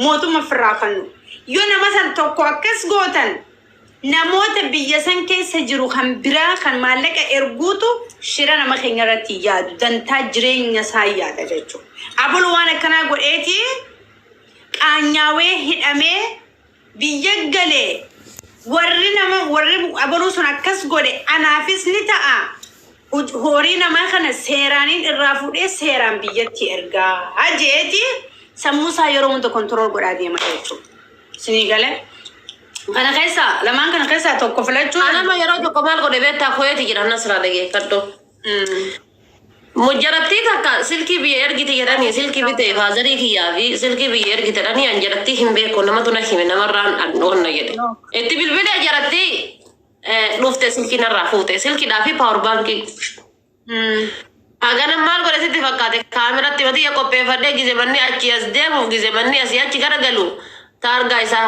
mootumma firraa fannu yoo nama san tokko akkas gootan namoota biyya san keessa jiru kan biraa kan maallaqa erguutu shira nama keenya irratti yaadu dantaa jireenya isaa yaada jechuudha. Abul waan akkanaa godheeti qaanyaawee hidhamee biyya gale warri nama warri abaruu sun akkas godhe anaafis ni ta'a Huj- horii namaa kana seeraaniin irraa fuudhee seeraan biyyatti ergaa jeeti sammuu isaa yeroo hunda kontirool godhaa deema jechuudha. Sinii gale kana keessaa lamaan kana keessaa tokko filachuu Anama yeroo tokko maal godhe beektaa kuweeti jira nasraa dhageeffadhu. Mujarattii takka silkii biyya ergiti jedhanii silkii bite faazarii kiyyaa fi silkii biyya ergite jedhanii an jarattii hin beeku namatu na hime namarraan dhaqnoonna jedhe. Itti bilbilee jarattii eh, dhufte silkii narraa fuute silkidhaa fi paawar baankii. Hagana maal godhe sitti fakkaate kaameratti matiyya qopheeffadhee gize manni achi as deemuuf gize manni asii achi garagalu taargaa isaa.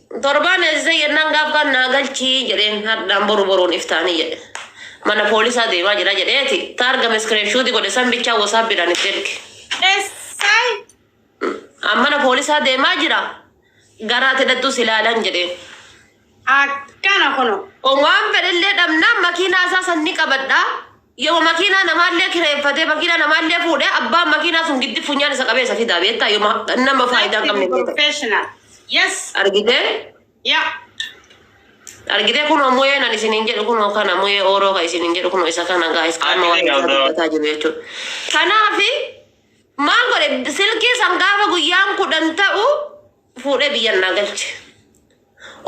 Torbaan eegsisee jennaan gaaf kaan naa galchi jedheen hardhaan boru boruun iftaanii jedhe mana poolisaa deemaa jira jedheeti taarga miskireenshuuti godhe san bichaa wosaappiidhaan itti erge. SI, An mana poolisaa deemaa jira garaa tidhattuu si laalan jedheen. Akkana kuno. Waan fedhellee dhabnaan makiinaa isaa san ni qabadha Yoma makiinaa namaallee kireeffatee makiinaa namaallee fuudhee abbaan makiinaa sun giddi funyaan isa qabee isa fidaa beektaa yoma nama faayidaa hin qabne professional yes argitee yeah argitee kunoo muyeen ani isiniin jedhu kunoo kana muyee ooroo ka isiniin jedhu kunoo isa kana gaa'is qaama waan isaa dubbataa jiru jechuudha. Kanaaf maal godhe silkii san gaafa guyyaan kudhan ta'u fuudhee biyyan naa galche.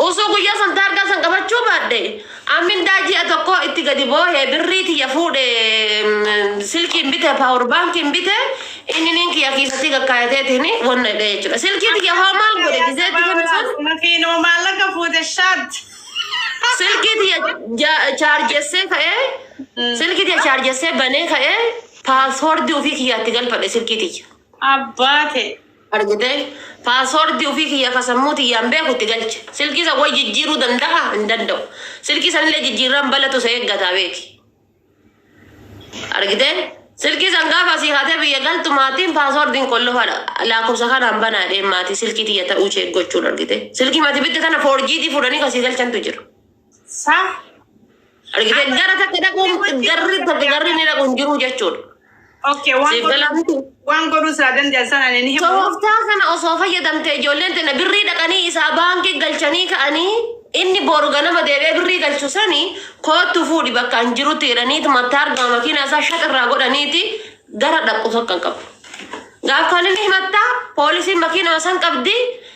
Osoo guyyaa san taargaa san qabachuu baadhe amindaa ji'a tokkoo itti gadi boohee birrii tiyya fuudhe mm, silkiin bite paawur baankiin bite inni niin kiyya kiisatii gakkaayateetiin wanna hidhee jechuudha. Silkii tiyya hoo maal godhe gizeetti kennu san Makiinoo maallaqa fuute shaat. silkii tiyya ja- chaarjessee ka'ee silkii tiyya chaarjessee banee ka'ee paaswoordii ofii kiyyaatti galfadhe silkii tiyya. Abbaa ta'e. Argitee? Password ofii kiyya ka sammuu tiyyaan beeku itti galche. Silkii san wal jijjiiruu danda'a? Hin danda'u. Silkii sanillee jijjiirraan balatu isa eeggataa beeki. Argitee? Silkii san gaafa asii kaatee biyya galtu maatiin passwordin qollofa laakkofsa kanaan banaa jedheen maatii silkii tiyya ta'uu check gochuun argitee. Silkii mati bitte tana 4G ti fuudhanii kasii galchantu jira. Saa Gara takka dhaquun garri takka garri ni dhaquun jiru jechuudha. okay waan Siif galaa godhu miti. waan godhu isaa danda'an sana ani ni himu. Tooftaa kana osoo fayyadamte ijoolleen tana birrii dhaqanii isaa baankii galchanii ka'anii inni boru ganama deebi'ee birrii galchu sani koottu fuudhi bakka hin jirutti jedhaniiti mataa argama makiinaa isaa shaq irraa godhaniiti gara dhaqu tokko hin qabu. Gaafkaan inni himattaa poolisiin makiinaa san qabdi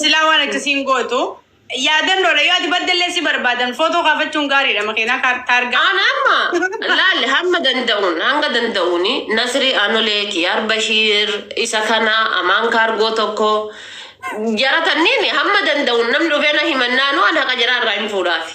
Silaa waan achi siin gootu yaadannoodha yoo ati baddellee si barbaadan footoo kaafachuun gaariidha makiinaa kaar- taargaa. Aan amma laali hamma danda'uun hanga danda'uun Nasri Anolee Kiyaar Bashiir isa kana Amaan Kaargoo tokko jara tanniin hamma danda'uun namni dhufee na himannaanuu an haqa jara irraa hin fuudhaafi.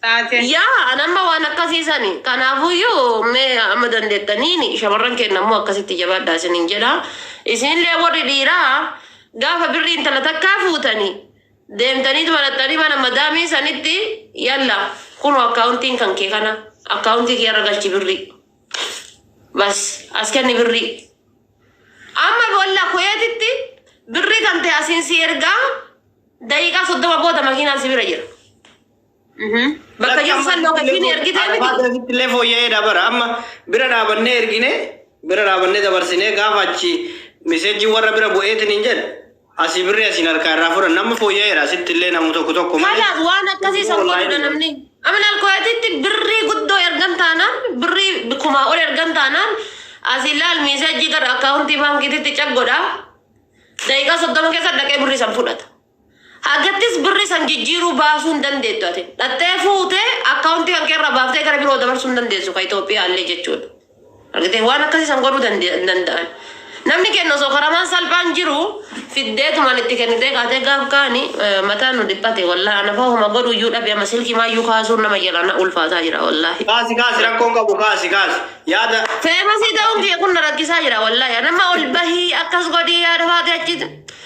taate. Yaa an amma waan akkasii sani kanaafuyyuu mee amma dandeettaniin shamarran keenya immoo akkasitti jabaadhaa isiniin jedha isinillee warri dhiiraa gaafa birrii intala takkaa fuutanii deemtanii maraxxanii mana madaamii sanitti yalla kunu akkaawuntiin kan kee kana akkaawuntii kee irra galchi birrii bas as kenni birrii amma bolla kuyeetitti birrii kan ta'e asiin si ergaa daqiiqaa soddoma booda makiinaan si bira jira. Bakka jiru san lookeshiin ergitee miti. Akkasitti illee fooyya'ee dabara. Amma bira dhaabannee ergine bira dhaabannee dabarsinee gaafa achi miseejii warra bira bu'eetiin hin jedhu asii birri asiin harkaa irraa furan nama fooyya'eera asitti illee namu tokko tokko malee. Kanaaf waan akkasii san godhuudha namni. Amanal kooyatitti birrii guddoo ergan taanaan birrii kumaa ol ergan taanaan asii laal miiseejii gara akkaawuntii baankiititti cag godhaa. Daqiiqaa soddoma keessa dhaqee birrii san fudhata. Hagattis birri san jijjiiruu baasuu hin dandeettu ati. Dhaxxee fuute account kan kee irraa baaftee gara biroo dabarsuu hin dandeessu ka Ethiopia illee jechuudha. Argitee? Waan akkasii san godhuu dande- hin danda'an. Namni kenna osoo karamaan salphaan jiru fiddeetumaan itti kennitee kaatee gaaf kaani eh, mataan nu dhiphate wallahi ana fa'aa homa godhu iyyuu dhabe amma silkii maayyuu kaasuun nama jalaa na ulfaataa jira wallahi. Kaasi kaasi rakkoon qabu kaasi kaasi. Yaada Feemasii ta'uun kiyya kun na rakkisaa jira wallahi. Nama ol bahii akkas godhii yaada faatee achi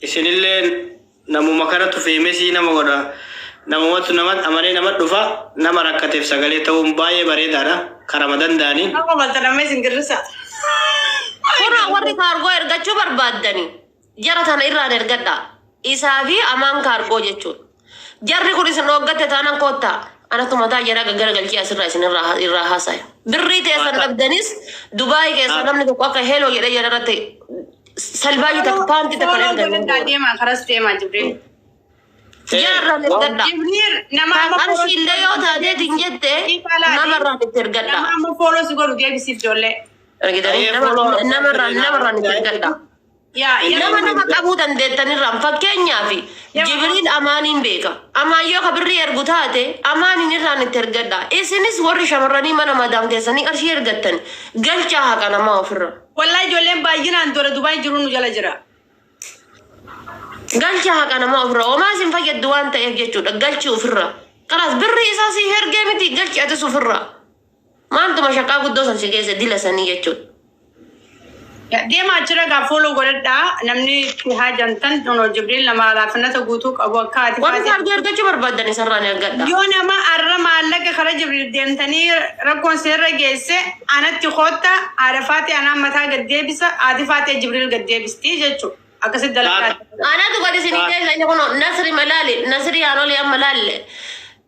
Isinilleen namuma kanatu feemesii nama godha. Namumatu namat amanee namat dhufa. Nama rakkatef sagalee ta'uun baay'ee bareedaadha. Karama danda'aniin. Amma malta namni isin girrisa. Kunoo warri kaargoo ergachuu barbaaddani jara tana irraan ergadhaa. Isaa fi Amaan kaargoo jechuudha. Jarri kun isin dhooggatte taanan koottaa anatu mataa jaraa gaggaragalchee asirraa isin irraa irraa haasaya. Birrii teessan Waaqa. dhabdanis Dubaay keessaa Ah. namni tokko akka heloo jedhee jala irratti salbaajii takka paantii takka Fooloo ergan. godhadhaa deemaa karas deemaa Jibriil. Jaarraa Ee, ergadhaa. Jibriil nama Kan amma fooloo qarshii illee yoo taateet hin jette Dhiifaalaa nama irraa itti nama ergadhaa. amma fooloo si godhu deebisiif ijoollee. Argitanii Ee, nama fooloo- nama irraa nama irraa itti ergadhaa. Yaa nama nama qabuu dandeettanirraan fakkeenyaaf Jibriil Amaaniin beeka. Amaan yoo ka birrii ergu taate Amaaniin irraan itti ergadha. Isinis warri shamarranii mana madaam keessanii qarshii ergattan galchaa haqa namaa ofirra. Wallahi ijoolleen baay'inaan dora Dubaay jiru nu jala jira. Galchaa haqa namaa ofirra. Homaa isin fayyaddu waan ta'eef jechuudha. Galchi ofirra. Kanaas birrii isaa siif ergee miti galchi atis ofirra. Maaltu mashaqaa guddoo san si geesse dila sanii jechuudha. Deema achira gaa follow godhadha namni itti haajantan no jibriil nama alaafinata guutuu qabu akka ati Warri faati kaardii argachuu barbaadan isarraa ni argadha. yoo nama arra maallaqa kara jibriil deemtanii rakkoon seerra geesse anatti kootta haadha faati anaan mataa gad deebisa haati faati jibriil gad deebisti jechu akkasitti dalagaa Anatu gadi isinii deebisa inni kun nasri malaali nasri haanolii amma laalle.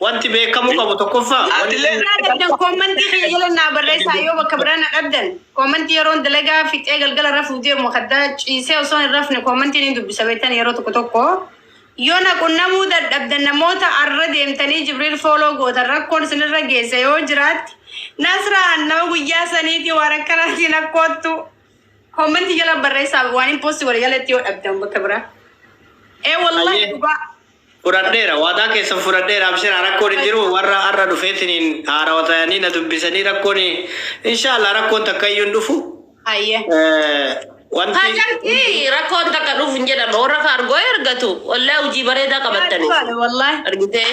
Wanti beekamuu qabu tokkoffaa Atilee Naa dhabdan koomantii kiyya jala naa barreessaa yoo bakka biraa na dhabdan koomantii yeroon dalagaa fixee galgala rafuuf deemu kaddaa ciisee osoo hin rafne koomantiin hin dubbisa beektan yeroo tokko tokko yoo na qunnamuu dadhabdan namoota arra deemtanii jibriil fooloo gootan rakkoon isinirra geesse yoo jiraatti nasraan nama guyyaa saniitii waan akkanaatiin rakkoottu koomantii jala barreessaa waan hin poosti godhe jalatti yoo dhabdan bakka biraa ee wallahi Ayyee. dhugaa Fudhadheera. Waadaa keessan fudhadheera. Abshiraa rakkoon hin jiru. Warra har'a dhufeetiniin haarawa tayanii na dubbisanii rakkoon inshaallah rakkoon takka iyyuu hin dhufu. Hayyee. Eh, Wanti Hajartii rakkoon takka dhufu hin jedhama. Warra kaargoo ergatu. Wallahi hojii bareedaa qabattani. Dhugaadha wallaahi. Argitee?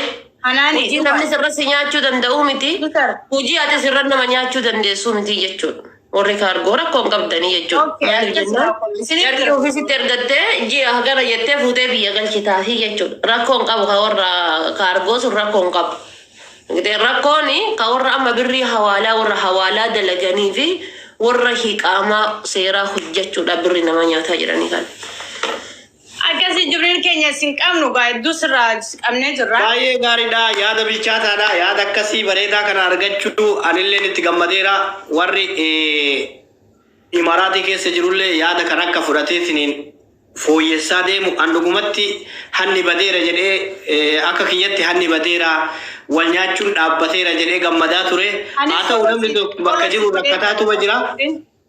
Hanaani Hojii namni sirra si nyaachuu danda'uu miti. Dhugaadha. Hojii ati sirra nama nyaachuu dandeessuu miti jechuudha. Warri kaargoo rakkoo hin qabdanii jechuudha. Okay, Maaliif akkas jennaan haa kun isin jarri erga- ofiisitti ergattee ji'a hagana jettee fuutee biyya galchitaafi jechuudha. Rakkoo hin qabu ka warra kaargoo sun rakkoo hin qabu. Gidee Rakkoon ka warra amma birrii hawaalaa warra hawaalaa dalaganii fi warra hiqaamaa seeraa hojjechuudha birri nama nyaataa jedhanii kan. Akkasii Jibriil keenya isin qabnu gaa hedduu sirraa qabnee jirra. Baay'ee gaariidha. Yaada bilchaataadha. Yaada akkasii bareedaa kana argachuu anilleen itti gammadeera. Warri eh, Imaraatii keessa jirullee yaada kan akka fudhatee siniin fooyyessaa deemu. An dhugumatti hanni badeera jedhee eh, akka kiyyatti hanni badeera wal nyaachuun dhaabbateera jedhee gammadaa ture. Haa ta'u namni tokko bakka jiru rakkataatuma jira.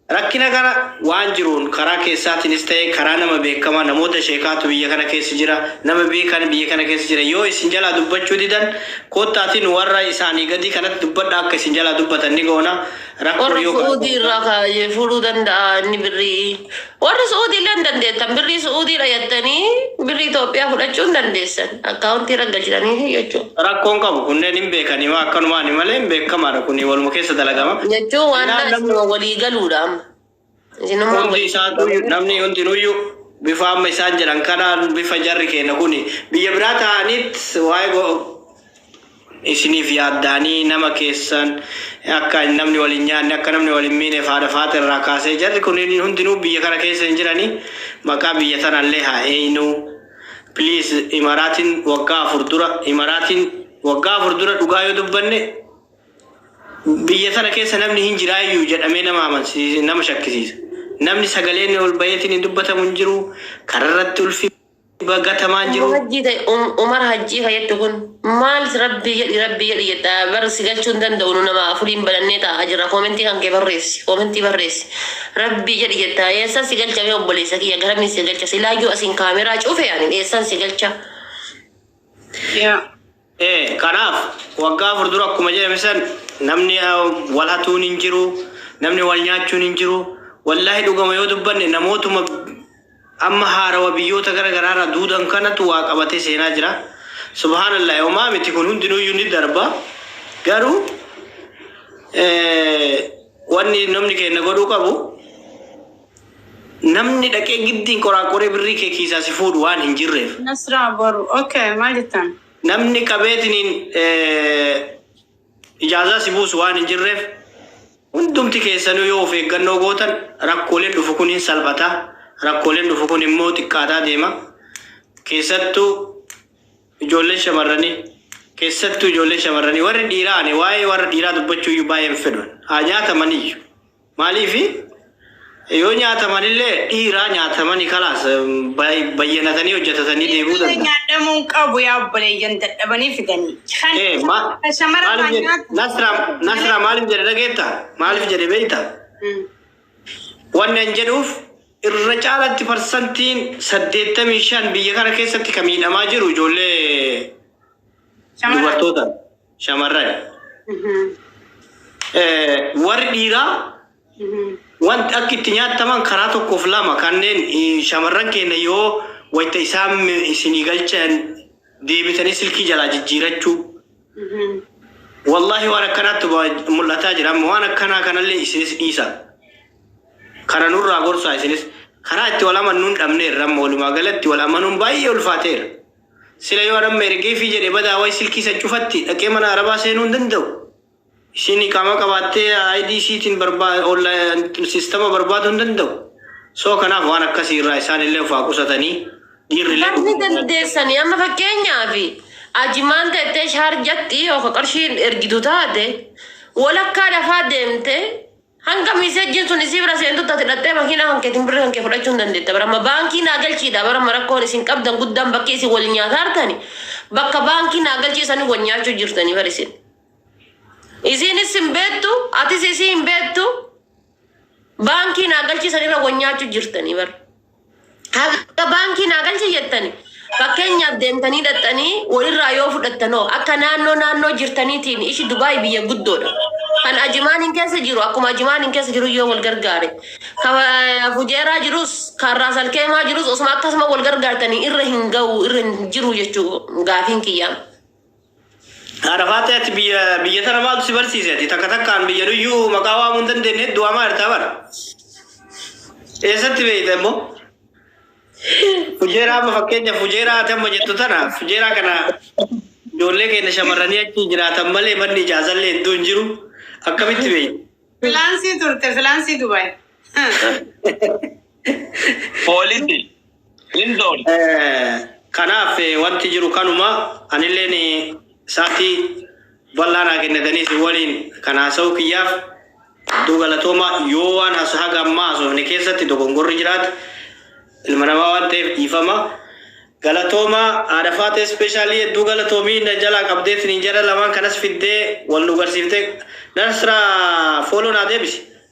Rakkina kana waan jiruun karaa keessaatinis ta'e karaa nama beekama namoota sheekaatu biyya kana keessa jira nama beekan biyya kana keessa jira yoo isin jalaa dubbachuu didan koottaati nu warra isaanii gadii kanatti dubbadha akka isin jalaa dubbatan ni goona rakkoo Warra yoo kana Su'uudii irraa gootan kaayee fuudhuu danda'a inni birrii. Warri Su'uudii illee hin dandeettan. Birrii Su'uudiidha jettanii birrii Itoophiyaa fudhachuu hin dandeessan. Account irra galchitaniifi jechuu. Rakko hin qabu kunneen hin beekani maa akkanumaani malee hin beekkamaadha kuni waluma keessa dalagama. Jechuu waan Seenaan namni isinuma walii galuudha amma. Isinuma hundi walii isaatu galuudha. namni hundinuyyu bifa amma isaan jedhan kanaan bifa jarri keenya kuni biyya biraa taa'aniit waa'ee go- isiniif yaaddaanii nama keessan akka namni wal hin nyaanne akka namni wal hin miineef haadha faaxa irraa kaasee jarri kun hundinuu biyya kana keessa hin jiranii maqaa biyya tanallee haa eeynuu please imaraatiin waggaa afur dura imaraatiin waggaa afur dura dhugaa yoo dubbanne biyya tana keessa namni hin jiraayyuu jedhamee nama amansiisa nama shakkisiisa namni sagaleen ol baheetiin hin dubbatamu hin jiru kararratti ulfi dhuga gatamaan jiruu. Umar hajjii ta'i um umar hajjii ka jettu kun maal rabbii jedhi rabbii jedhi jetta bar si galchuu hin danda'u nu nama afuriin banannee taa'aa jirra koomentii kan kee barreessi koomentii barreessi rabbii jedhi jetta eessan si galcha mee obboleessa kiyya garamiin si galcha silaayyuu asiin kaameraa cufe ani eessan si galcha Yaa. ee kanaaf waggaa afur dura akkuma jedhame san namni wal hatuun hin jiru namni wal nyaachuun hin jiru wallaahi dhugama yoo dubbanne namootuma amma haarawa biyyoota gara garaarraa duudan kanatu waa qabatee seenaa jira subhaanallah homaa miti kun hundinuuyyuu ni darba garuu wanni namni keenya godhuu qabu Namni dhaqee giddiin qoraaqoree birrii kee kiisaa si fuudhu waan hin jirreef. Nasraa boru ok maal jettan. Namni qabeetiniin ijaazaa si buusu waan hin jirreef hundumti keessanuu yoo of eeggannoo gootan rakkooleen dhufu kun hin salphata. Rakkooleen dhufu kun immoo xiqqaataa deema. Keessattuu ijoolleen shamarranii keessattuu ijoolleen shamarranii warri dhiiraa ani waa'ee warra dhiiraa dubbachuu iyyuu baay'een fedhu haa nyaatamaniyyuu. Maaliif yoo nyaataman illee dhiiraa nyaatamani kalaas bayyanatanii hojjatatanii deebi'uu Dhiira danda'a. nyaadhamuun qabu yaa obboleeyyan dadhabanii fidanii. Kan Ee, ma- kan shamara maaliif irraa jedhe nyaatu. Nasra Nasra maaliif jedhe dhageetta? Maaliif jedhe beekta? Mm. Wanni an jedhuuf irra caalatti parsantiin 85 biyya kana keessatti kan miidhamaa jiru ijoollee Shamara. dubartoota. shamarran warri dhiiraa wanti akka itti nyaattaman karaa tokkoof lama kanneen shamarran keenya yoo wayita isaan isinii galchan deebitanii silkii jalaa jijjiirachuu. Wallaahi waan akkanaatti mul'ataa jira amma waan akkanaa kanallee isinis dhiisa. Kana nurraa gorsaa isinis karaa itti wal amannuun dhabneerra amma walumaa galatti wal amanuun baay'ee ulfaateera. Sila yoo an amma ergeefii jedhe badaa way silkii isan cufatti dhaqee mana arabaa seenuu hin danda'u? Isiin iqaamaa qabaattee ID isiitiin barbaa online sistama barbaaduu hin danda'u? So kanaaf waan akkasii irraa isaan illee of haa qusatanii dhiirri illee Namni dhuguma dandeessanii amma fakkeenyaaf ajimaan teettee shaarjatti yookaan qarshiin ergitu taate walakkaa lafaa deemtee Hanga messagin sun isii bira seentutti ati dhaxxee makiinaa kan keetin birri kan kee fudhachuu hin dandeetta bar amma baankii naa galchii dha bar amma rakkoon isin qabdan guddaan bakkee isin wal nyaataartani bakka baankii naa galchii sani wal nyaachuu jirtanii bar isin isiinis hin beettu atis isii hin beettu baankii naa galchii sanirra wal nyaachuu jirtanii bar Haga baankii naa galchi jettani fakkeenyaaf deemtanii dhaxxanii walirraa yoo fudhattanoo akka naannoo naannoo jirtaniitiin ishi Dubaay biyya guddoodha. Kan Ajimaaniin keessa jiru akkuma Ajimaaniin keessa jiru yoo wal gargaare. Kan eh, Fujeeraa jirus kan Raasalkeemaa jirus osuma akkasuma wal gargaartanii irra hin ga'u irra hin jiru jechuu gaafiin kiyyaa. Haadha faatee ati biyya biyya tana maaltu si barsiise ati takka takkaan biyya nuyyuu maqaa waamuu hin dandeenye hedduu waamaa jirtaa bara. Eessatti beekta immoo? Fujeeraa amma fakkeenyaaf fujeeraa ati amma jettu tana fujeeraa kana ijoollee keenya shamarranii achi jiraatan malee manni ijaazallee hedduu hin jiru akkamitti beekta? Filaansii turte filaansii Dubaay. Poolisi. Lindon. Kanaaf wanti jiru kanuma anilleen saatii bal'aa naa kennatanii isin waliin kan haasa'uu kiyyaaf hedduu galatooma yoo waan has haga ammaa haasofne keessatti dogongorri jiraate ilma namaa waan ta'eef dhiifama galatooma haadha faatee ispeeshaalii hedduu galatoomii na jalaa qabdee isiniin jedha lamaan kanas fiddee wal nu garsiiftee nasra fooloo naa deebisi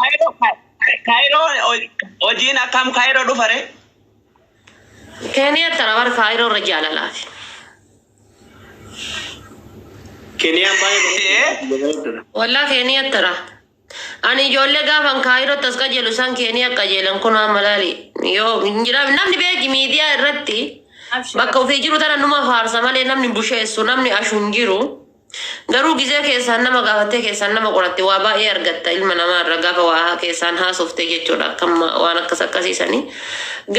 Kaayiroo Kaayiroo hojiin akkam Kaayiroo dhufare? Keeniyaa tana bara kaayiroo irra jaalalaati. Keniyaan baay'ee bareeddudha. Wallaa keeniyaa tana. Ani ijoollee gaafan kaayiroo tas qajeelu isaan keeniyaa qajeelan kun amma laali. Yoo hin jedhame namni beeki miidiyaa irratti bakka ofii jiru tana numa faarsa malee namni busheessu namni ashu hin jiru. Garuu gizee keessaan nama gaafattee keessaan nama qoratte waa baay'ee argatta ilma namaa irra gaafa waa keessaan haasofte jechuudha akkam waan akkas akkasii sanii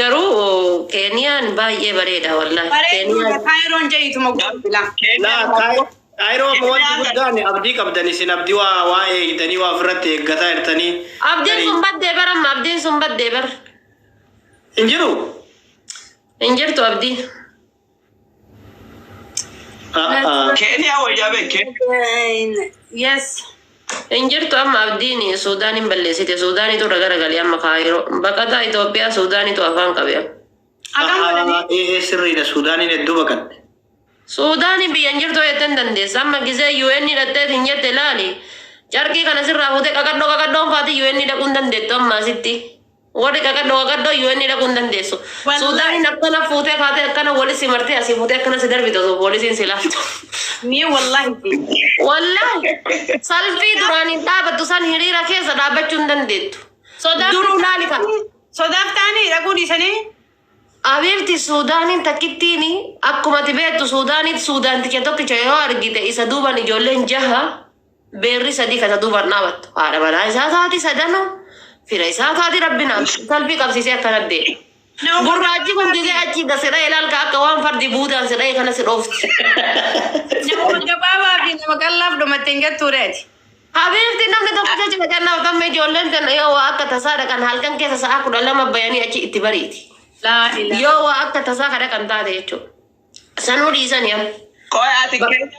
garuu keeniyaan baay'ee bareeda wallahi Bareedduu keeniyaan dha Kaayiroon jayituma godhu bilaa. Laa Kaay- Kaayiroo amma wanti guddaan abdii qabdan isin abdii waa waa eegdanii waa ofirratti eeggataa jirtanii abdiin garii sun baddee bar amma abdiin sun baddee bar hin jiru. hin jirtu abdii Keeniyaa wayyaa bee Keeniyaa. Yes. Hin jirtu amma abdiin Suudaaniin balleessite. Suudaaniitu irra garagalee amma kaayiroo. Baqataa Itoophiyaa Suudaaniitu afaan qabe. Akam godhani? Ee sirriidha Suudaaniin hedduu baqatte. Suudaanii biyya hin jirtu jettee hin dandeessa. Amma gisee UN dhaqxeet hin jette ilaali. Carqii kana sirraa fuutee qaqadhoo qaqadhoon faati UN dhaquu hin dandeettu amma asitti. Warri qaqaddo qaqaddo UN dhaquu hin dandeessu. Wallahi. Suudaaniin akkana fuutee kaatee akkana wali si martee asii fuutee akkana si darbite osoo poolisiin si laaltu. Mee wallahi fi. Wallahi salfii duraan hin dhaabattu san hiriira keessa dhaabachuu hin dandeettu. Sodaaf Duruu laali kan. Sodaaf ta'anii dhaquu dhiisanii. Abiibti Suudaaniin takkittiin akkuma ati beektu Suudaanitti Suudaan ticha tokkicha yoo argite isa duuban ijoolleen jaha Beerri sadii ka isa duubaan dhaabattu haadha manaa isaa taati, sadanuu fira isaa taati, Rabbi naaf Ish. salphii qabsiisee akkana jedhe. Gurraachi kun gisee achi da si dhaye laal ka akka waan fardi buudaan si dhaye kana si dhoofti. Namuma gabaabaa fi nama qallaaf dhumatte hin jettuu ree ati. Habiibti namni tokko jecha na kennaaf tamme ijoolleen tenna yoo waa akka tasaa dhaqan halkan keessa sa'aa kudha lama bayanii achi itti bariiti. Laa ilaa. Yoo waa akka tasaa ka dhaqan taate jechuudha. Sanuu dhiisanii amma. Qoy ati Ba- keenya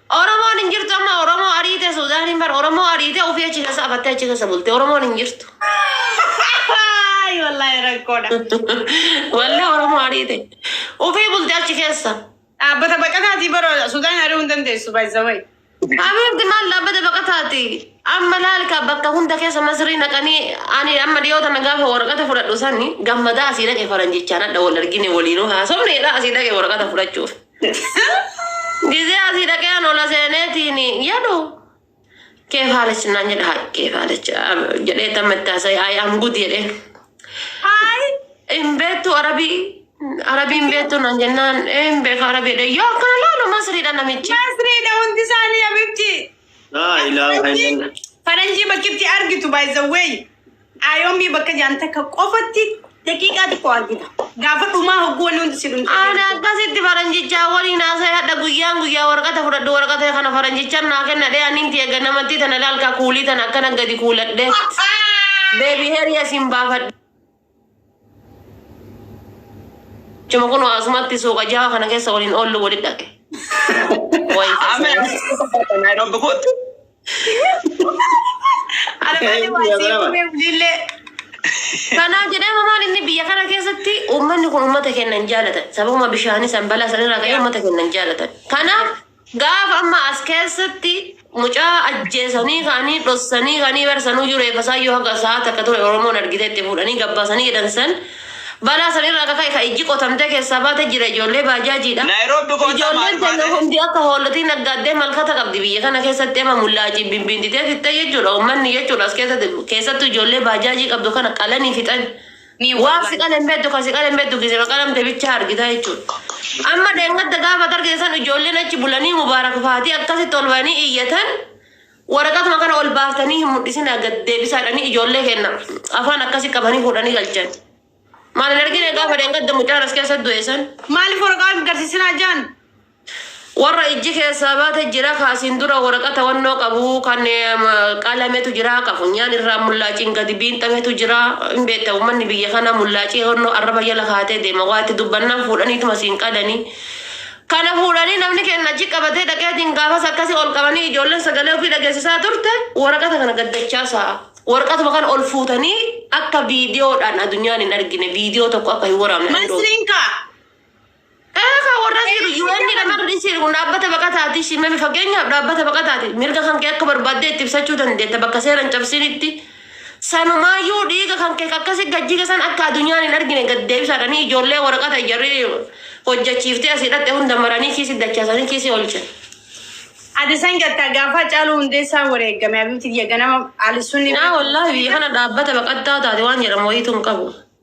Oromoon hin jirtu amma Oromoo ariite Suudaaniin bar Oromoo ariite ofii achi keessa afattee achi keessa bulte Oromoon hin jirtu. Ay, Wallahi rakkoodha. Wallahi Oromoo ariite ofii bulte achi keessa. Dhaabbata baqataatii bara Sudaan ari'uu hin dandeessu baay'isawee. Abeerti maal dhaabbata baqataati? Amma laalka bakka hunda keessa masrii naqanii ani amma dhiyoota na gaafa waraqata fudhadhu sani gammadaa asii dhaqe faranjichaan hadha wal argine waliinuu haasofneedha asii dhaqe waraqata fudhachuuf. Gizee asii dhaqee an ola seeneetiin jedhu keef haalichi naan jedha haa keef haalichi jedhee tamma itti haasa'e ayi am gud jedhee. Ayi hin beektu arabii arabii hin beektu naan jennaan ee hin beeku arabii jedhee yoo akkana laalu masriidha namichi. Masriidha hundi isaanii abibti. Laa ilaaha illallah. Faranjii bakkitti argitu by the way. Ayoomii bakka jaan takka qofatti daqiiqaa xiqqoo argita. Gaafa dhumaa hogguu wanni hundi si dhumte. Ani akkasitti faranjichaa waliin haasa'e hadha guyyaan guyyaa warqata fudhadhu warqata kana faranjichaan naa kenna dhee aniin tiya ganamattii tana laalkaa kuulii tana akkana gadi kuuladhe. Beebi heriya siin baafadhe. Chuma kun asumatti suuqa jaha kana keessa waliin oollu wali dhaqe. Wayi Ameen. tasaa. Nairobi kootti. Ana malee waa isii uumee bulillee. Kanaa jedhama maal inni biyya kana keessatti uummanni kun uummata keenya hin jaalatan. Sababuma bishaanii san balaa san irraa ka'ee uummata keenya hin jaalatan. Kanaaf Gaafa amma as keessatti mucaa ajjeesanii ka'anii dhossanii ka'anii bar sanuyyuu reeffa isaayyuu haga sa'a takka ture Oromoon argitee itti fuudhanii gabbaasanii jedhan san balaa san irraa akka ka'e ka ijji qotamtee keessaa baate jira ijoollee baajaajiidha. Nairobi kottaa Ijoolleen maaliif keenya baate? hundi akka hoolatii naggaaddee malkata qabdi biyya kana keessatti amma mullaaciin bimbiintitee fixxee jechuudha ummanni jechuudha as keessatti keessattuu ijoollee baajaajii qabdu kana qalanii fixan. Ni waan si qalan beddu kan si qalan beddu gisema qalamte bichaa argita jechuudha. Amma dheengadda gaafa targee san ijoolleen achi bulanii mubaarak faatii akkasitti ol ba'anii iyyatan waraqatuma kana ol baaftanii hin mul'isinaa gad deebisaadhanii ijoollee kenna afaan akkasi qabanii fuudhanii galchan. Maal hin argine gaafa dheengadda mucaan as keessa du'e san. Maaliif waraqaa hin garsiisinaa jaan? Warra ijji keessaa baate jira ka asiin dura woraqata wannoo qabu kan qalametu jira ka funyaan irraa mullaaciin gadi biinxametu jira hin beekta ummanni biyya kana mullaacii wannoo arraba jala kaatee deema waa itti dubbannaan fuudhaniituma siin qadani kana fuudhanii namni keenna achi qabatee dhaqeetiin gaafas akkasi ol qabanii ijoolleen sagalee ofii dhageessisaa turte woraqata kana gaddachaasa woraqatuma kana ol fuutanii akka viidiyoodhaan adunyaan hin argine viidiyoo tokko akka hin waraabne Masriin kaa Eegaa warras jiru UN kan dhiisee kun dhaabbata baqataati shimame fakkeenyaaf dhaabbata baqataati mirga kan kee akka barbaadde itti ibsachuu dandeetta bakka seeran cabsinitti sanumaayyuu dhiiga kan kee akkasi gajjii keessan akka addunyaan hin argine gad deebisaadhanii ijoollee waraqata ijarri hojjechiiftee asii dhaqxe hunda maranii kiisii dachaasanii kiisii olche. Ati san gattaa gaafa caaluu hundeessaa wareegame abibti kiyya ganama alisuun Naa wallaahi biyya kana dhaabbata baqattaa taate waan jedhamu wayiitu hin qabu.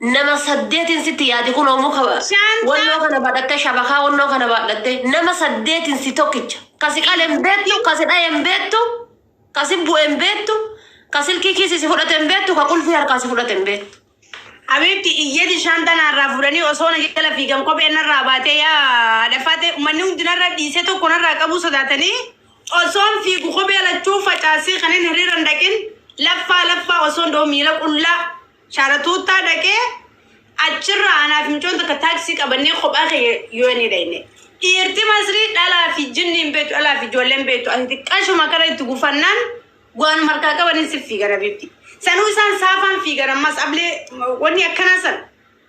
Nama saddeetiin sitti yaadi kunoo muka Shanta. wannoo kana baadhattee shabakaa wannoo kana baadhattee nama saddeetiin si tokkicha. Ka si qale hin beektu, ka si dhaye hin beektu, ka si bu'e hin beektu, ka silkii kiisii si fudhate hin beektu, ka qulfii harkaa si fudhate hin beektu. Habiibti iyyati shanta narraa fuudhanii osoo na jala fiigan kophee narraa baatee yaa dhafaate uummanni hundi narra dhiisee tokko narraa qabuu sodaatanii osoon fiigu kophee lachuu facaasee kanin hiriira hin dhaqin laffaa laffaa osoon doo miila qullaa Shaaratuuttaa dhaqee achirraa anaa fi mucoon takka taaksii qabannee kophaa keenya yoonii dhayne. Dhiirti Masrii dhalaa fi jinni hin beektu, dhalaa fi ijoollee hin beektu. Ati xiqqashuma kana itti gufannaan waan markaa qaban hin siif fiigan habiibti. Sanuu isaan saafaan fiigan ammas ablee wanni akkanaa san.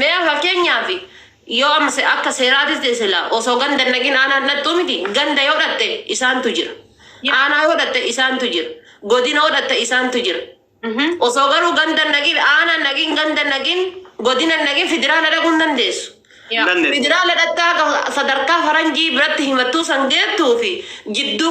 Mee fakkeenyaaf yoo amma se- akka seeraatis ta'e sila osoo ganda hin dhaqin aanaa hin dhaqxuu miti ganda yoo dhaqxe isaantu jira Yes. aanaa yoo dhaqxe isaantu jira godina yoo dhaqxe isaantu jira Mhm. osoo garuu ganda hin dhaqin aanaa hin dhaqin ganda hin dhaqin godina hin dhaqin federaala dhaquu hin dandeessu Yaa. Dandeessu. federaala dhaqxaa akka sadarkaa faranjii biratti himattuu san geettuu fi jidduu